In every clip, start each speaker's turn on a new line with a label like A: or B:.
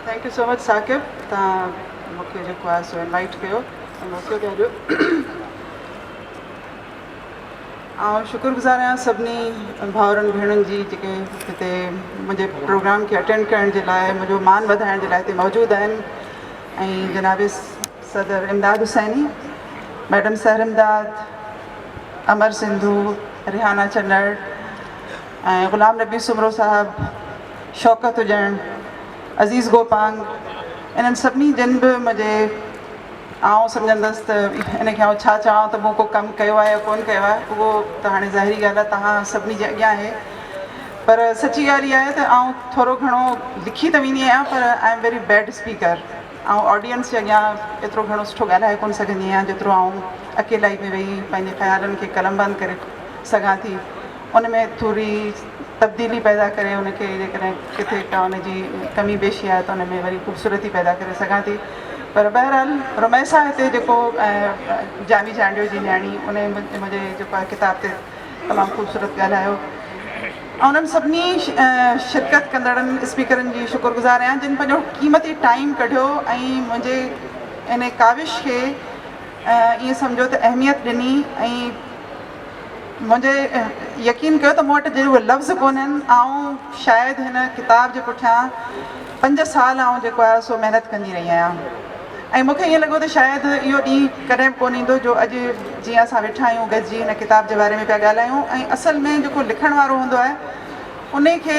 A: Thank you so much Saqib تان مونکي جيڪو آهي سو انوائٽ ڪيو موقعو پيا ڏيو آئون شڪر گزار آهيان سڀني ڀاؤرن ڀيڻن جي جيڪي هتي منهنجي پروگرام کي اٽينڊ ڪرڻ جي لاء منهنجو مان وڌائڻ جي لاء هتي موجود آهن ۽ جناب صدر امداد حسيني، ميڊم سحر امداد، امر سنڌو، ريحانه چنڙ ۽ غلام نبي سومرو صاحب، شوڪت اڄڻ، عزيز گوپانگ انهن سڀني جن به منهنجي آئون سمجهندس ته ان کي آئون ڇا چوان ته مون ڪو ڪم ڪيو آهي يا ڪونه ڪيو آهي اهو ته هاڻي ظاهري ڳالهه آهي توهان سڀني جي اڳيان آهي پر سچي ڳالهه اها آهي ته آئون ٿورو گهڻو لکي ته ويندي آهيان پر I am very bad speaker آئون آڊينس جي اڳيان ايترو گهڻو سٺو ڳالهائي ڪونه سگهندي آهيان جيترو آئون اڪيلائي ۾ ويهي پنهنجي خيالن کي قلمبند ڪري سگهان ٿي ان ۾ ٿوري تبديلي پيدا ڪري ان کي جيڪڏهن ڪٿي ڪا ان جي ڪمي بيشي آهي ته ان ۾ وري خوبصورتي پيدا ڪري سگهان ٿي پر بهرحال رميسا هتي جيڪو جاني چانڊيو جي نياڻي ان منهنجي جيڪو ڪتاب تي تمام خوبصورت ڳالهايو انهن سڀني شرڪت ڪندڙن اسپيڪرن جي شڪر گذار آهيان جن پنهنجو قيمتي ٽائيم ڪڍيو ۽ منهنجي ان ڪاوش کي ائين سمجهو ته اهميت ڏني ۽ منهنجي يقين ڪيو ته مون وٽ جي اهي لفظ ڪونهن آئون شايد هن ڪتاب جي پٺيان پنج سال آئون جيڪو آهي سو محنت ڪندي رهي آهيان. ۽ مون کي ائين لڳو ته شايد اهو ڏينهن ڪڏهن به ڪونه ايندو جو اڄ جيئن اسان ويٺا آهيون گڏجي هن ڪتاب جي باري ۾ پيا ڳالهايون ۽ اصل ۾ جيڪو لکڻ وارو هوندو آهي انهي کي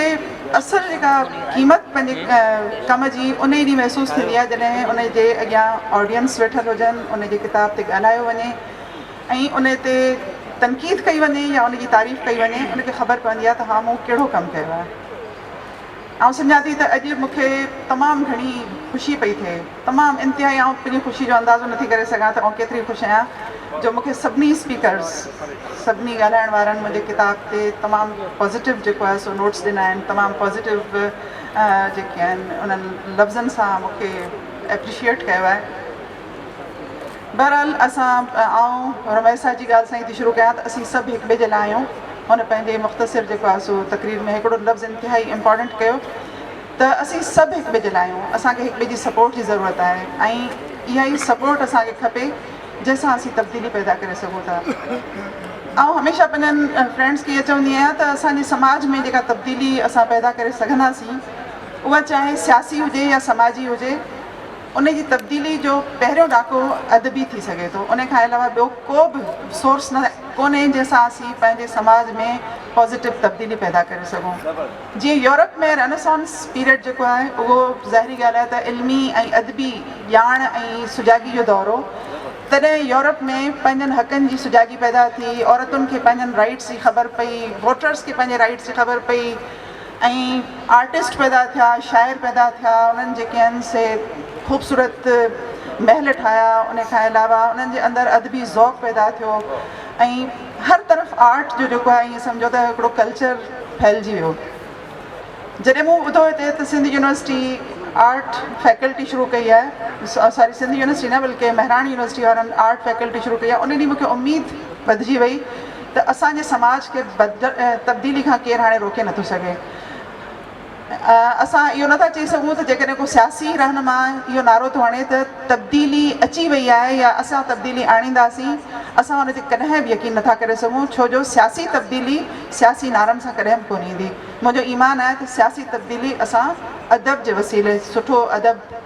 A: اصل جيڪا قيمت پنهنجي ڪم جي انهي ڏينهن محسوس ٿيندي آهي جڏهن ان جي اڳيان آڊينس ويٺل هجن ان جي ڪتاب تي ڳالهايو وڃي ۽ ان تي تنقيد ڪئي وڃي يا ان جي تعريف ڪئي وڃي ان کي خبر پوندي آهي ته ها مون ڪهڙو ڪم ڪيو آهي. آئون سمجهان ٿي ته اڄ مون کي تمام گهڻي خوشي پئي ٿئي، تمام انتهائي آئون پنهنجي خوشي جو اندازو نٿي ڪري سگهان ته آئون ڪيتري خوش آهيان جو مون کي سڀني اسپيڪرز سڀني ڳالهائڻ وارن منهنجي ڪتاب تي تمام پازيٽو جيڪو آهي سو نوٽس ڏنا آهن تمام پازيٽو جيڪي آهن انهن لفظن سان مون کي اپريشيئيٽ ڪيو آهي. بهرحال اسان آئون رميسا جي ڳالهه سان ئي ٿي شروع ڪيان ته اسين سڀ هڪ ٻئي جي لاء آهيون. هن پنهنجي مختصر جيڪو آهي سو تقرير ۾ هڪڙو لفظ انتهائي امپارٽنٽ ڪيو ته اسين سڀ هڪ ٻئي جي لاء آهيون اسان کي هڪ ٻئي جي سپورٽ جي ضرورت آهي ۽ اها ئي سپورٽ اسان کي کپي جنهن سان اسين تبديلي پيدا ڪري سگهون ٿا. آئون هميشه پنهنجن فرينڊس کي اهي چوندي آهيان ته اسان جي سماج ۾ جيڪا تبديلي اسان پيدا ڪري سگهنداسين اها چاهي سياسي هجي يا سماجي هجي ان جي تبديلي جو پهريون ڏاڪو ادبي ٿي سگهي ٿو. ان کان علاوه ٻيو ڪو به سورس نه ڪونهي جنهن سان اسين پنهنجي سماج ۾ پازيٽو تبديلي پيدا ڪري سگهون. جيئن يورپ ۾ رينيسانس پيريڊ جيڪو آهي اهو ظاهري ڳالهه آهي ته علمي ۽ ادبي ڄاڻ ۽ سجاڳي جو دور هو تڏهن يورپ ۾ پنهنجن حقن جي سجاڳي پيدا ٿي عورتن کي پنهنجن رائيٽس جي خبر پئي ووٽرس کي پنهنجي رائيٽس جي خبر پئي ۽ آرٽسٽ پيدا ٿيا شاعر پيدا ٿيا انهن جيڪي آهن سي خوبصورت محل ٺاهيا ان کان علاوه انهن جي اندر ادبي ذوق پيدا ٿيو ۽ هر طرف آرٽ جو جيڪو آهي ائين سمجهو ته هڪڙو ڪلچر ڦهلجي ويو جڏهن مون ٻڌو هتي ته سنڌ يونيورسٽي آرٽ فيڪلٽي شروع ڪئي آهي ساري سنڌ يونيورسٽي نه بلڪه مهراڻ يونيورسٽي وارن آرٽ فيڪلٽي شروع ڪئي آهي ان ڏينهن مونکي اميد وڌجي وئي ته اسان جي سماج کي تبديلي کان ڪير هاڻي روڪي نٿو سگهي. اسان اهو نٿا چئي سگهون ته جيڪڏهن ڪو سياسي رهنما اهو نعرو ٿو هڻي ته تبديلي اچي وئي آهي يا اسان تبديلي آڻينداسين، اسان ان تي ڪڏهن به يقين نٿا ڪري سگهون ڇو جو سياسي تبديلي سياسي نعرن سان ڪڏهن به ڪونه ايندي. منهنجو ايمان آهي ته سياسي تبديلي اسان ادب جي وسيلي سٺو ادب،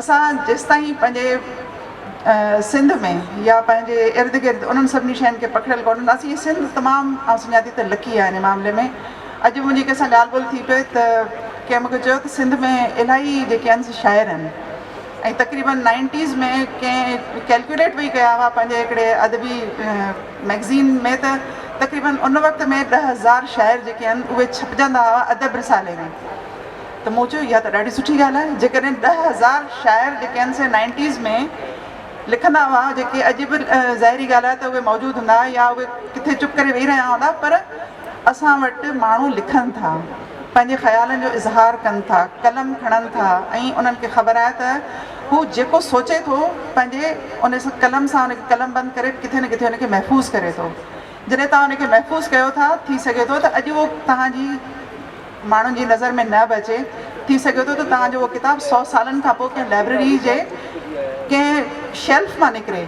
A: اسان جيستائين پنهنجي سنڌ ۾ يا پنهنجي ارد گرد انهن سڀني شين کي پڪڙيل ڪونه هونداسين ۽ سنڌ تمام آئون سمجهان ٿي ته لڪي آهي ان معاملي ۾ اڄ به منهنجي ڪنهن سان ڳالهه ٻولهه ٿي پئي ته ڪنهن مون کي چيو ته سنڌ ۾ الاهي جيڪي انس شاعر آهن ۽ تقريبن نائنٽيز ۾ ڪنهن ڪيلڪيوليٽ وئي ڪيا هئا پنهنجي هڪڙي ادبي مئگزين ۾ ته تقريبن ان وقت ۾ ڏهه هزار شاعر جيڪي آهن اهي ڇپجندا هئا ادب رسالي ۾ ته مون چيو اها ته ڏاڍي سٺي ڳالهه آهي، جيڪڏهن ڏهه هزار شاعر جيڪي آهن سي نائنٽيز ۾ لکندا هئا جيڪي اڄ به ظاهري ڳالهه آهي ته اهي موجود هوندا يا اهي ڪٿي چپ ڪري ويهي رهيا هوندا پر اسان وٽ ماڻهو لکن ٿا پنهنجي خيالن جو اظهار ڪن ٿا قلم کڻن ٿا ۽ انهن کي خبر آهي ته هو جيڪو سوچي ٿو پنهنجي ان سان قلم سان ان کي قلم بند ڪري ڪٿي نه ڪٿي ان کي محفوظ ڪري ٿو جڏهن توهان ان کي محفوظ ڪيو ٿا ٿي سگهي ٿو ته اڄ اهو توهان جي ماڻهن جي نظر ۾ نه به اچي. ٿي سگهي ٿو ته توهان جو اهو ڪتاب سؤ سالن کان پوء ڪنهن لائبريري جي ڪنهن شيلف مان نڪري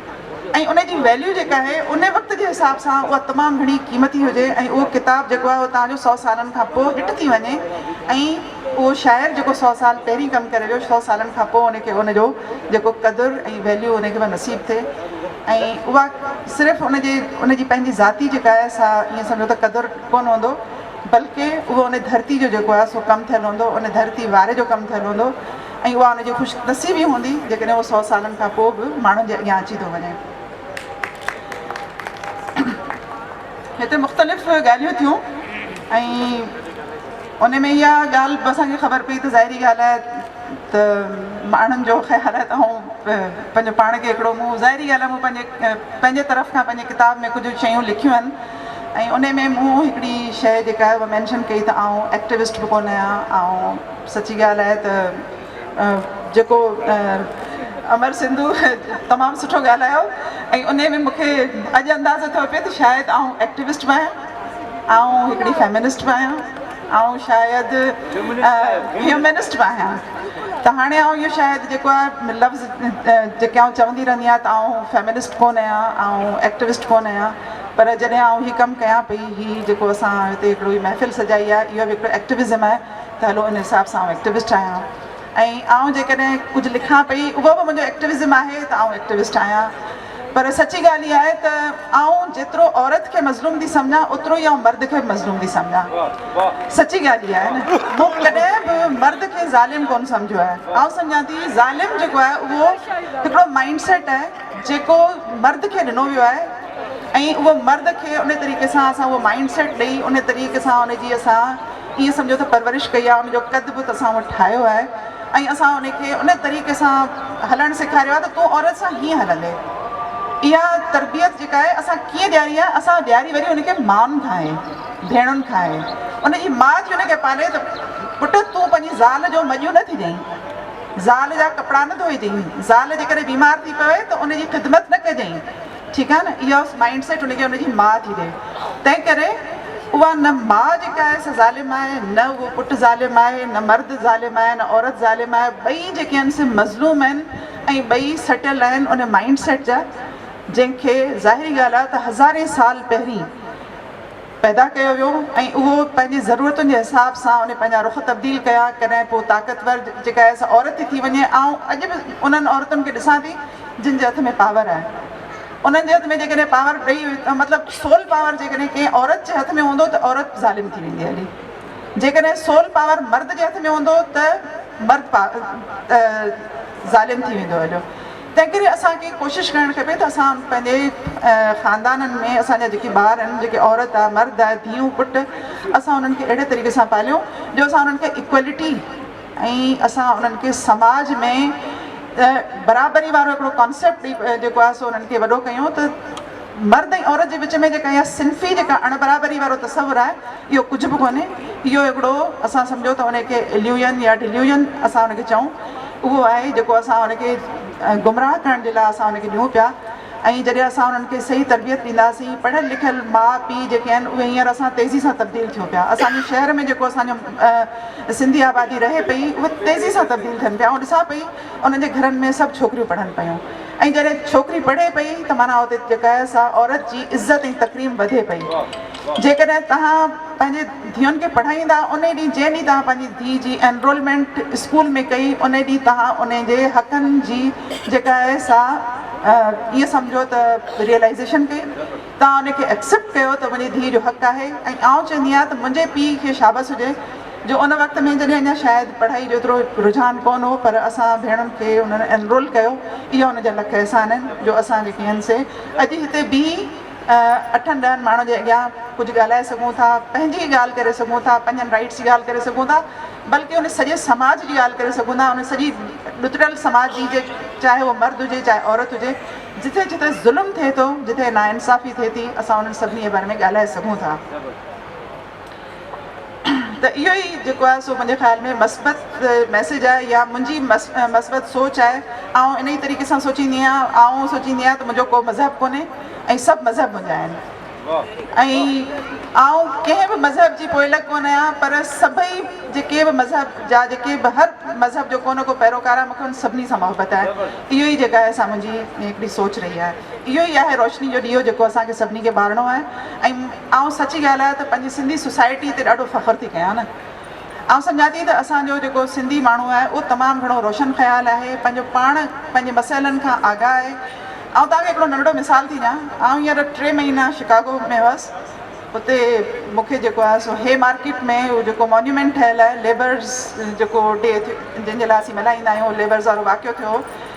A: ۽ ان جي ويليو جيڪا آهي ان وقت جي حساب سان اها تمام گهڻي قيمتي هجي ۽ اهو ڪتاب جيڪو آهي اهو توهان جو سؤ سالن کان پوء هٽ ٿي وڃي ۽ اهو شاعر جيڪو سؤ سال پهرين ڪم ڪري ويو سؤ سالن کان پوء ان کي ان جو جيڪو قدر ۽ ويليو ان کي به نصيب ٿئي ۽ اها صرف ان جي ان جي پنهنجي ذاتي جيڪا آهي سا ائين سمجهو ته قدر ڪونه هوندو بلڪ اهو ان ڌرتي جو جيڪو آهي سو ڪم ٿيل هوندو، ان ڌرتي واري جو ڪم ٿيل هوندو ۽ اها ان جي خوش نصيبي هوندي جيڪڏهن اهو سؤ سالن کان پوء به ماڻهن جي اڳيان اچي ٿو وڃي. هتي مختلف ڳالهيون ٿيون ۽ ان ۾ اها ڳالهه به اسان کي خبر پئي ته ظاهري ڳالهه آهي ته ماڻهن جو خيال آهي ته آئون پنهنجو پاڻ کي هڪڙو مون ظاهري ڳالهه آهي مون پنهنجي پنهنجي طرف کان پنهنجي ڪتاب ۾ ڪجهه شيون لکيون آهن ۽ انهي ۾ مون هڪڙي شئي جيڪا آهي اها مينشن ڪئي ته آئون ايڪٽيوسٽ به ڪونه آهيان آئون سچي ڳالهه آهي ته جيڪو امر سنڌو تمام سٺو ڳالهايو ۽ انهي ۾ مونکي اڄ اندازو ٿيو پئي ته شايد آئون ايڪٽيوسٽ به آهيان آئون هڪڙي فيمنسٽ به آهيان آئون شايد هيومنسٽ به آهيان ته هاڻي آئون اهو شايد جيڪو آهي لفظ جيڪي آئون چوندي رهندي آهيان ته آئون فيمنسٽ ڪونه آهيان آئون ايڪٽيوسٽ ڪونه آهيان پر جڏهن آئون هي ڪم ڪيان پئي، هي جيڪو اسان هتي هڪڙو هي محفل سجائي آهي، اهو به هڪڙو ايڪٽيوزم آهي ته هلو ان حساب سان آئون ايڪٽيوسٽ آهيان ۽ آئون جيڪڏهن ڪجهه لکان پئي، اهو به منهنجو ايڪٽيوزم آهي ته آئون ايڪٽيوسٽ آهيان. پر سچي ڳالهه اها آهي ته آئون جيترو عورت کي مظلوم ٿي سمجهان، اوترو ئي آئون مرد کي به مظلوم ٿي سمجهان. سچي ڳالهه اها آهي نه. مون ڪڏهن به مرد کي ظالم ڪونه سمجهيو آهي. آئون سمجهان ٿي ظالم جيڪو آهي اهو هڪڙو مائنڊ سيٽ آهي. جيڪو مرد کي ڏنو ويو آهي ۽ اهو مرد کي ان طريقي سان اسان اهو مائنڊ سيٽ ڏئي ان طريقي سان ان جي اسان ائين سمجهو ته پرورش ڪئي آهي ان جو قد بت اسان اهو ٺاهيو آهي ۽ اسان ان کي ان طريقي سان هلڻ سيکاريو آهي ته تون عورت سان هيئن هلندي اها تربيت جيڪا آهي اسان ڪيئن ڏياري آهي اسان ڏياري وري ان کي مائن کان آهي ڀيڻن کان آهي ان جي ماء ٿي ان کي پالي ته پٽ تون پنهنجي زال جو مڄيون نه ٿي ڏئين زال جا ڪپڙا نه ڌوئجئين، زال جيڪڏهن بيمار ٿي پوي ته ان جي خدمت نه ڪجئين، ٺيڪ آهي نه، اها مائنڊ سيٽ ان کي ان جي ماء ٿي ڏئي، تنهن ڪري اها نه ماء جيڪا آهي سا ظالم آهي، نه اهو پٽ ظالم آهي، نه مرد ظالم آهي، نه عورت ظالم آهي، ٻئي جيڪي آهن سي مظلوم آهن ۽ ٻئي سٽل آهن ان مائنڊ سيٽ جا جنهن کي ظاهري ڳالهه آهي ته هزارين سال پهرين. پيدا ڪيو ويو ۽ اهو پنهنجي ضرورتن جي حساب سان انهن پنهنجا رخ تبديل ڪيا ڪڏهن ڪو طاقتور جيڪا ايس عورت ٿي ٿي وڃي آئون اڄ به انهن عورتن کي ڏسان ٿي جن جي هٿ ۾ پاور آهي انهن جي هٿ ۾ جيڪڏهن پاور ڏئي مطلب سول پاور جيڪڏهن ڪنهن عورت جي هٿ ۾ هوندو ته عورت ظالم ٿي ويندي هلي جيڪڏهن سول پاور مرد جي هٿ ۾ هوندو ته مرد ظالم ٿي ويندو هليو تنهنڪري اسان کي ڪوشش ڪرڻ کپي ته اسان پنهنجي خاندانن ۾ اسان جا جيڪي ٻار آهن جيڪي عورت آهي مرد آهي ڌيئون پٽ اسان انهن کي اهڙي طريقي سان پاليون جو اسان انهن کي اڪويلٽي ۽ اسان انهن کي سماج ۾ برابري وارو هڪڙو ڪانسيپٽ جيڪو آهي سو انهن کي وڏو ڪيون ته مرد ۽ عورت جي وچ ۾ جيڪا اها صنفي جيڪا اڻ برابري وارو تصور آهي اهو ڪجهه به ڪونهي، اهو هڪڙو اسان سمجهو ته ان کي اليوجن يا ڊليوجن اسان ان کي چئون، اهو آهي جيڪو اسان ان کي گمراهه ڪرڻ جي لاء اسان ان کي ڏيون پيا ۽ جڏهن اسان انهن کي صحيح تربيت ڏينداسين، پڙهيل لکيل ماء پيء جيڪي آهن اهي هينئر اسان تيزي سان تبديل ٿيون پيا، اسان جي شهر ۾ جيڪو اسان جو سنڌي آبادي رهي پئي اهي تيزي سان تبديل ٿين پيا، آئون ڏسان پئي انهن جي گهرن ۾ سڀ ڇوڪريون پڙهن پيون ۽ جڏهن ڇوڪري پڙهي پئي ته معنيٰ اتي جيڪا آهي سا عورت جي عزت ۽ تڪريم وڌي پئي. جيڪڏهن توهان پنهنجي ڌيئن کي پڙهائيندا انهي ڏينهن جنهن ڏينهن توهان پنهنجي ڌيء جي انرولمينٽ اسڪول ۾ ڪئي انهي ڏينهن توهان انهي جي حقن جي جيڪا آهي سا ائين سمجهو ته ريئلائيزيشن ڪئي توهان انهي کي ايڪسيپٽ ڪيو ته منهنجي ڌيء جو حق آهي ۽ آئون چوندي آهيان ته منهنجي پيء کي شابس هجي جو ان وقت ۾ جڏهن اڃا شايد پڙهائي جو ايترو رجحان ڪونه هو پر اسان ڀيڻن کي هن انرول ڪيو اهي ان جا لک احسان آهن جو اسان جيڪي آهن سي اڄ هتي بيهي اٺن ڏهن ماڻهن جي اڳيان ڪجهه ڳالهائي سگهون ٿا پنهنجي ڳالهه ڪري سگهون ٿا پنهنجن رائيٽس جي ڳالهه ڪري سگهون ٿا بلڪه ان سڄي سماج جي ڳالهه ڪري سگهون ٿا ان سڄي ڏتڙيل سماج جي جي چاهي هو مرد هجي چاهي عورت هجي جتي جتي ظلم ٿئي ٿو جتي نا انصافي ٿئي ٿي اسان انهن سڀني جي باري ۾ ڳالهائي سگهون ٿا ته اهو ئي جيڪو آهي سو منهنجي خيال ۾ مثبت ميسيج آهي يا منهنجي مثبت سوچ آهي آئون انهي طريقي سان سوچيندي آهيان آئون سوچيندي آهيان ته منهنجو ڪو مذهب ڪونهي ۽ سڀ مذهب منهنجا آهن ۽ آئون ڪنهن به مذهب جي پوئلڳ ڪونه آهيان پر سڀئي جيڪي به مذهب جا جيڪي به هر مذهب جو ڪو نه ڪو پيروڪار آهي مون کي ان سڀني سان محبت آهي اهو ئي جيڪا آهي سا منهنجي هڪڙي سوچ رهي آهي اهو ئي آهي روشني جو ڏيئو جيڪو اسان کي سڀني کي ٻارڻو آهي ۽ آئون سچ ڳالهايان ته پنهنجي سنڌي سوسائٽي تي ڏاڍو فخر ٿي ڪيان نه آئون سمجهان ٿي ته اسان جو جيڪو سنڌي ماڻهو آهي اهو تمام گهڻو روشن خيال آهي پنهنجو پاڻ پنهنجي مسئلن کان آگاهه آهي آئون توهان کي هڪڙو ننڍڙو مثال ٿي ڏيان آئون هينئر ٽي مهينا شڪاگو ۾ هئس اتي مون کي جيڪو آهي سو هي مارڪيٽ ۾ اهو جيڪو مونيومينٽ ٺهيل آهي ليبرز جيڪو ڊي جنهن جي لاء اسين ملهائيندا آهيون ليبرز وارو واقعو ٿيو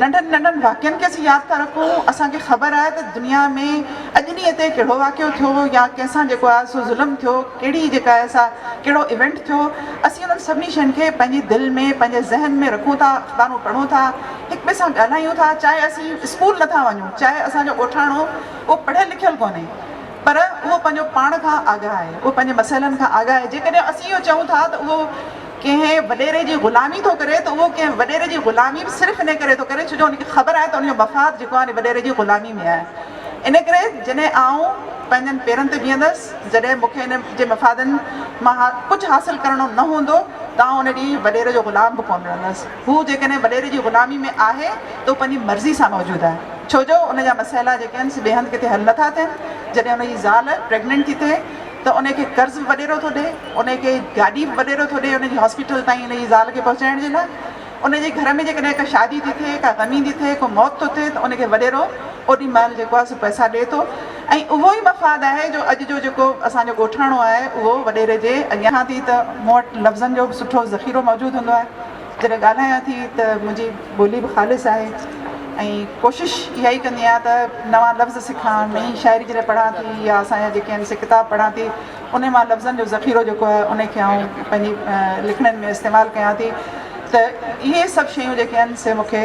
A: ننڍن ننڍن واقعن کي اسين ياد ٿا رکون، اسان کي خبر آهي ته دنيا ۾ اڄ ڏينهن تي ڪهڙو واقعو ٿيو يا ڪنهن سان جيڪو آهي سو ظلم ٿيو، ڪهڙي جيڪا آهي سا ڪهڙو ايونٽ ٿيو، اسين انهن سڀني شين کي پنهنجي دل ۾ پنهنجي ذهن ۾ رکون ٿا، اخبارون پڙهون ٿا، هڪ ٻئي سان ڳالهايون ٿا، چاهي اسين اسڪول نٿا وڃون، چاهي اسان جو ڳوٺاڻو اهو پڙهيل لکيل ڪونهي پر اهو پنهنجو پاڻ کان آگاهه آهي، اهو پنهنجي مسئلن کان آگاهه آهي، جيڪڏهن اسين اهو چئون ٿا ته اهو ڪنهن وڏيري جي غلامي ٿو ڪري ته اهو ڪنهن وڏيري جي غلامي به صرف ان ڪري ٿو ڪري ڇو جو ان کي خبر آهي ته ان جو مفاد جيڪو آهي ان وڏيري جي غلامي ۾ آهي ان ڪري جڏهن آئون پنهنجن پيرن تي بيهندس جڏهن مون کي ان جي مفادن مان ڪجهه حاصل ڪرڻو نه هوندو ته آئون ان ڏينهن وڏيري جو غلام به ڪونه رهندس هو جيڪڏهن وڏيري جي غلامي ۾ آهي ته هو پنهنجي مرضي سان موجود آهي ڇو جو ان جا مسئلا جيڪي آهن سي ٻئي هنڌ ڪٿي حل نه ٿا ٿين جڏهن ان جي زال پريگننٽ ٿي ٿئي ته انهي کي قرض به وڏيرو ٿو ڏي، انهي کي گاڏي به وڏيرو ٿو ڏي انهي جي هاسپيٽل تائين انهي جي زال کي پهچائڻ جي لاء. انهي جي گهر ۾ جيڪڏهن ڪا شادي ٿي ٿئي، ڪا غمي ٿي ٿئي، ڪو موت ٿو ٿئي ته انهي کي وڏيرو اوڏي مهل جيڪو آهي سو پئسا ڏي ٿو ۽ اهو ئي مفاد آهي جو اڄ جو جيڪو اسان جو ڳوٺاڻو آهي اهو وڏيري جي اڳيان ٿي ته مون وٽ لفظن جو به سٺو ذخيرو موجود هوندو آهي. جڏهن ڳالهايان ٿي ته منهنجي ٻولي به خالص آهي ۽ ڪوشش اها ئي ڪندي آهيان ته نوان لفظ سکان نئين شاعري جڏهن پڙهان ٿي يا اسان جا جيڪي آهن سي ڪتاب پڙهان ٿي ان مان لفظن جو ذخيرو جيڪو آهي ان کي آئون پنهنجي لکڻين ۾ استعمال ڪيان ٿي ته اهي سڀ شيون جيڪي آهن سي مون کي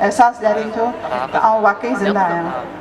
A: احساس ڏيارين ٿيون ته آئون واقعي زنده آهيان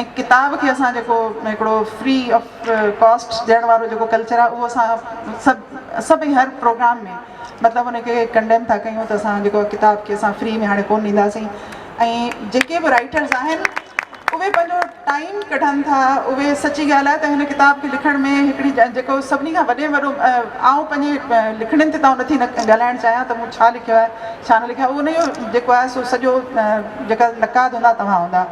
A: ۽ ڪتاب کي اسان جيڪو هڪڙو فري آف ڪاسٽ ڏيڻ وارو جيڪو ڪلچر آهي اهو اسان سڀ سڀئي هر پروگرام ۾ مطلب ان کي ڪنڊيم ٿا ڪيون ته اسان جيڪو ڪتاب کي اسان فري ۾ هاڻي ڪون ڏينداسين ۽ جيڪي به رائيٽرز آهن اهي پنهنجو ٽائيم ڪڍن ٿا اهي سچي ڳالهه آهي ته هن ڪتاب کي لکڻ ۾ هڪڙي جيڪو سڀني کان وڏي وڏو آئون پنهنجي لکڻين تي تان نٿي ڳالهائڻ چاهيان ته مون ڇا لکيو آهي ڇا نه لکيو آهي ان جو جيڪو آهي سو سڄو جيڪا نقاد هوندا توهان هوندا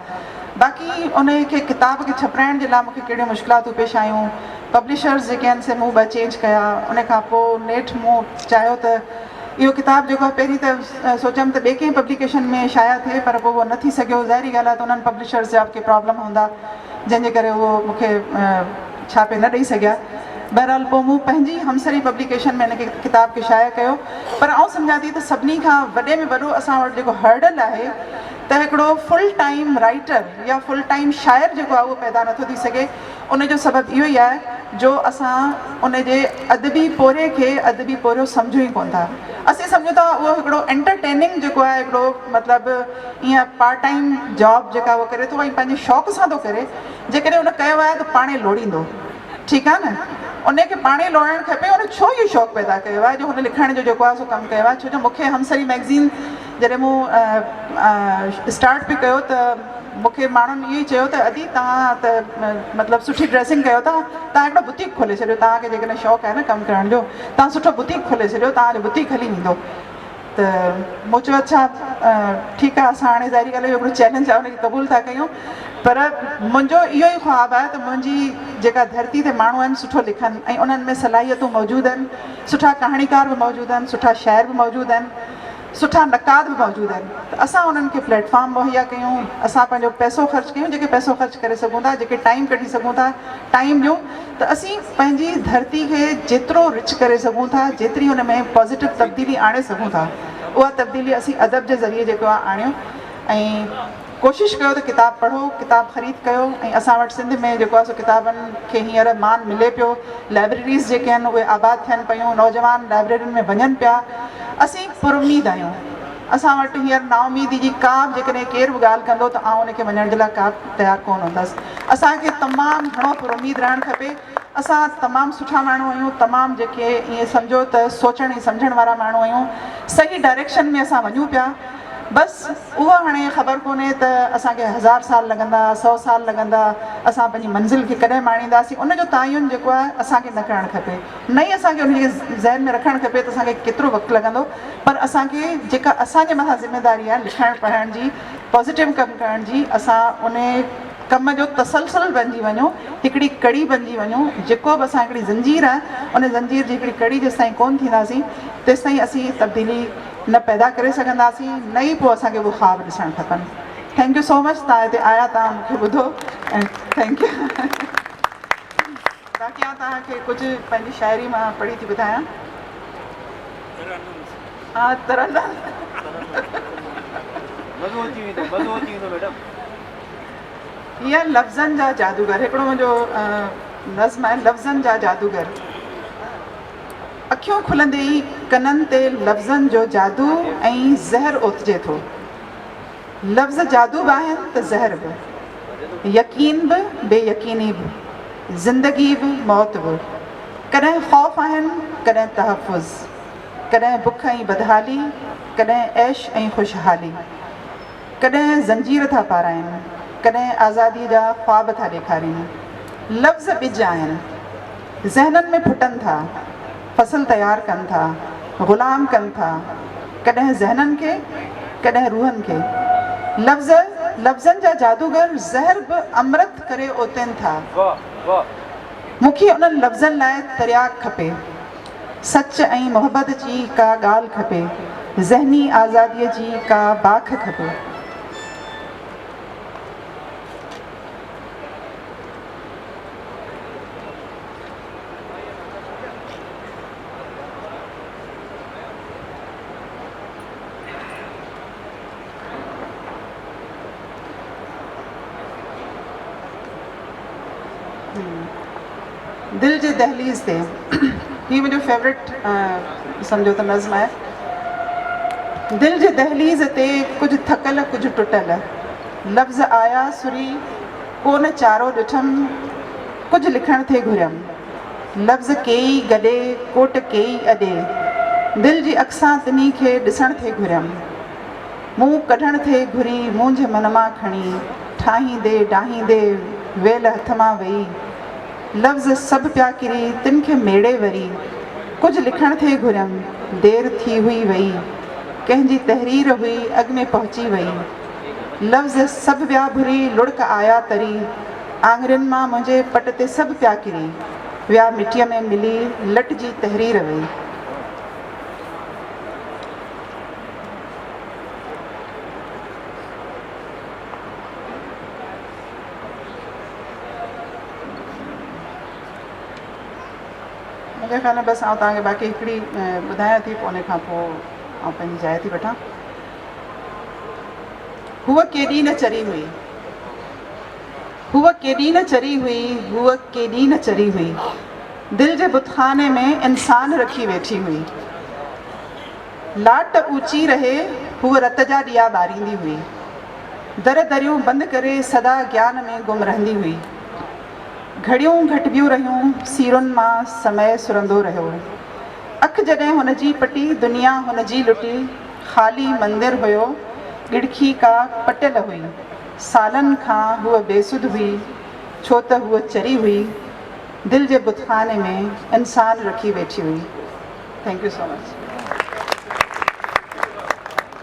A: باقي انهيء کي ڪتاب کي ڇپرائڻ جي لاء مون کي ڪهڙيون مشڪلاتون پيش آيون، پبلشرز جيڪي آهن سي منهن ٻه چينج ڪيا، ان کان پوء نيٺ مون چاهيو ته اهو ڪتاب جيڪو آهي پهرين ته سوچيم ته ٻي ڪنهن پبليڪيشن ۾ شايع ٿئي پر پوء اهو نه ٿي سگهيو، ظاهري ڳالهه آهي ته انهن پبلشرز جا به ڪي پرابلم هوندا جنهن جي ڪري اهو مون کي ڇاپي نه ڏئي سگهيا، بهرحال پوء مون پنهنجي همسري پبليڪيشن ۾ هن ڪتاب کي شايع ڪيو پر آئون سمجهان ٿي ته سڀني کان وڏي ۾ وڏو اسان وٽ جيڪو هرڊل آهي ته هڪڙو فل ٽائيم رائيٽر يا فل ٽائيم شاعر جيڪو آهي اهو پيدا نٿو ٿي سگهي ان جو سبب اهو ئي آهي جو اسان ان جي ادبي پورهيي کي ادبي پورهيو سمجهون ئي ڪونه ٿا اسين سمجهون ٿا اهو هڪڙو انٽرٽيننگ جيڪو آهي هڪڙو مطلب ايئن پارٽ ٽائيم جاب جيڪا هو ڪري ٿو ۽ پنهنجي شوق سان ٿو ڪري جيڪڏهن ان ڪيو آهي ته پاڻهي لوڙيندو ٺيڪ آهي نه ان کي پاڻهي لوڙائڻ کپي ان ڇو اهو شوق پيدا ڪيو آهي جو هن لکڻ جو جيڪو آهي سو ڪم ڪيو آهي ڇو جو مون کي همسري مئگزين جڏهن مون اسٽارٽ به ڪيو ته مون کي ماڻهن اهو ئي چيو ته ادي توهان ته مطلب سٺي ڊريسنگ ڪيو ٿا توهان هڪڙو بوتيڪ کولي ڇڏيو توهان کي جيڪڏهن شوق آهي نه ڪم ڪرڻ جو توهان سٺو بوتيڪ کولي ڇڏيو توهان جو بوتيڪ هلي ويندو ته مون چيو اڇا ٺيڪ آهي اسان هاڻي ظاهري ڳالهه اهو هڪڙو چئلينج آهي ان کي قبول ٿا ڪيون پر منهنجو اهو ئي خواب آهي ته منهنجي جيڪا ڌرتي تي ماڻهو آهن سٺو لکن ۽ انهن ۾ صلاحيتون موجود آهن سٺا ڪهاڻيڪار به موجود آهن سٺا شاعر به موجود آهن سٺا نقاد به موجود آهن ته اسان انهن کي پليٽ فارم مهيا ڪيون اسان پنهنجو پئسو خرچ ڪيون جيڪي پئسو خرچ ڪري سگهون ٿا جيڪي ٽائيم ڪڍي سگهون ٿا ٽائيم ڏيون ته اسين پنهنجي ڌرتي کي جيترو رچ ڪري سگهون ٿا جيتري ان ۾ پازيٽو تبديلي آڻي سگهون ٿا اها تبديلي اسين ادب جي ذريعي جيڪو آهي آڻيون ۽ ڪوشش ڪيو ته ڪتاب پڙهو، ڪتاب خريد ڪيو ۽ اسان وٽ سنڌ ۾ جيڪو آهي سو ڪتابن کي هينئر مان ملي پيو، لائبريريز جيڪي آهن اهي آباد ٿين پيون، نوجوان لائبريرين ۾ وڃن پيا، اسين پراميد آهيون، اسان وٽ هينئر نااميدي جي ڪا به جيڪڏهن ڪير به ڳالهه ڪندو ته آئون ان کي مڃڻ جي لاء ڪا به تيار ڪونه هوندس، اسان کي تمام گهڻو پراميد رهڻ کپي. اسان تمام سٺا ماڻهو آهيون تمام جيڪي ائين سمجهو ته سوچڻ ۽ سمجهڻ وارا ماڻهو آهيون صحيح ڊائريڪشن ۾ اسان وڃون پيا بس اها هاڻي خبر ڪونهي ته اسان کي هزار سال لڳندا سو سال لڳندا اسان پنهنجي منزل کي ڪڏهن ماڻينداسين ان جو تعين جيڪو آهي اسان کي نه ڪرڻ کپي نه ئي اسان کي ان کي ذهن ۾ رکڻ کپي ته اسان کي ڪيترو وقت لڳندو پر اسان کي جيڪا اسان جي مٿان ذميداري آهي لکڻ پڙهڻ جي پازيٽو ڪم ڪرڻ جي اسان ان ڪم جو تسلسل بنجي وڃو، هڪڙي ڪڙي بنجي وڃو، جيڪو به اسان هڪڙي زنجير آهي، ان زنجير جي هڪڙي ڪڙي جيستائين ڪونه ٿينداسين، تيستائين اسين تبديلي نه پيدا ڪري سگهنداسين، نه ئي پوء اسان کي اهي خواب ڏسڻ کپن. ٿينڪ يو سو مچ، توهان هتي آيا، توهان مون کي ٻڌو ۽ ٿينڪ يو. باقي آئون توهان کي ڪجهه پنهنجي شاعري مان پڙهي ٿي ٻڌايان. ترنم هي آهن لفظن جا جادوگر هڪڙو منهنجو نظم آهن لفظن جا جادوگر اکيون کلندي ئي ڪنن تي لفظن جو جادو ۽ زهر اوتجي ٿو. لفظ جادو به آهن ته زهر به. يقين به بي يقيني به. زندگي به موت به. ڪڏهن خوف آهن ڪڏهن تحفظ. ڪڏهن بک ۽ بدحالي ڪڏهن عيش ۽ خوشحالي. ڪڏهن زنجير ٿا پارائين ڪڏهن آزادي جا خواب ٿا ڏيکارين. لفظ ٻج آهن. ذهنن ۾ ڦٽن ٿا. فصل تيار ڪن ٿا، غلام ڪن ٿا، ڪڏهن ذهنن کي، ڪڏهن روحن کي. لفظ، لفظن جا جادوگر زهر به امرت ڪري اوتين ٿا. مون کي انهن لفظن لاء ترياق کپي. سچ ۽ محبت جي ڪا ڳالهه کپي، ذهني آزاديء جي ڪا باک کپي. دل جي دهليز تي هي منهنجو فيورٽ سمجهو ته نظم آهي دل جي دهليز تي ڪجهه ٿڪل ڪجهه ٽٽل لفظ آيا سري ڪو نه چارو ڏٺم، ڪجهه لکڻ ٿي گهريم. لفظ ڪيئي گڏي، ڪوٽ ڪيئي اڏي. دل جي اک سان تنهين کي ڏسڻ ٿي گهريم. منهن ڪڍڻ ٿي گهري مونجهه من مان کڻي، ٺاهيندي ڊاهيندي ويل هٿ مان ويئي. لفظ سڀ پيا ڪري تن کي ميڙي وري، ڪجهه لکڻ ٿي گهريم، دير ٿي هئي ويئي. ڪنهن جي تحرير هئي اڳ ۾ پهچي ويئي. لفظ سڀ ويا ڀري لڙڪ آيا تري آڱرين مان منهنجي پٽ تي سڀ پيا ڪري ويا مٽيء ۾ ملي لٽ جي تحرير وئي. مونکي خيال ۾ بس آئون توهان کي باقي هڪڙي ٻڌايان ٿي پوء ان کان پوء آئون پنهنجي جاء ٿي وٺان. هوء ڪيڏي نه چري هئي. هوء ڪيڏي نه چري هئي. هوء ڪيڏي نه چري هئي. دل جي بتخاني ۾ انسان رکي ويٺي هئي. لاٽ اوچي رهي هوء رت جا ڏيئا ٻاريندي هئي. در دريون بند ڪري سدا گيان ۾ گم رهندي هئي. گهڙيون گهٽبيون رهيون، سيرن مان سمئي سرندو رهيو. اک جڏهن هن جي پٽي، دنيا هن جي لٽي، خالي مندر هيو، ڳڙکي ڪا پٽيل هئي، سالن کان هوء بي سڌ هئي، ڇو ته هوء چري هئي، دل جي بتخاني ۾ انسان رکي ويٺي هئي. Thank you so much.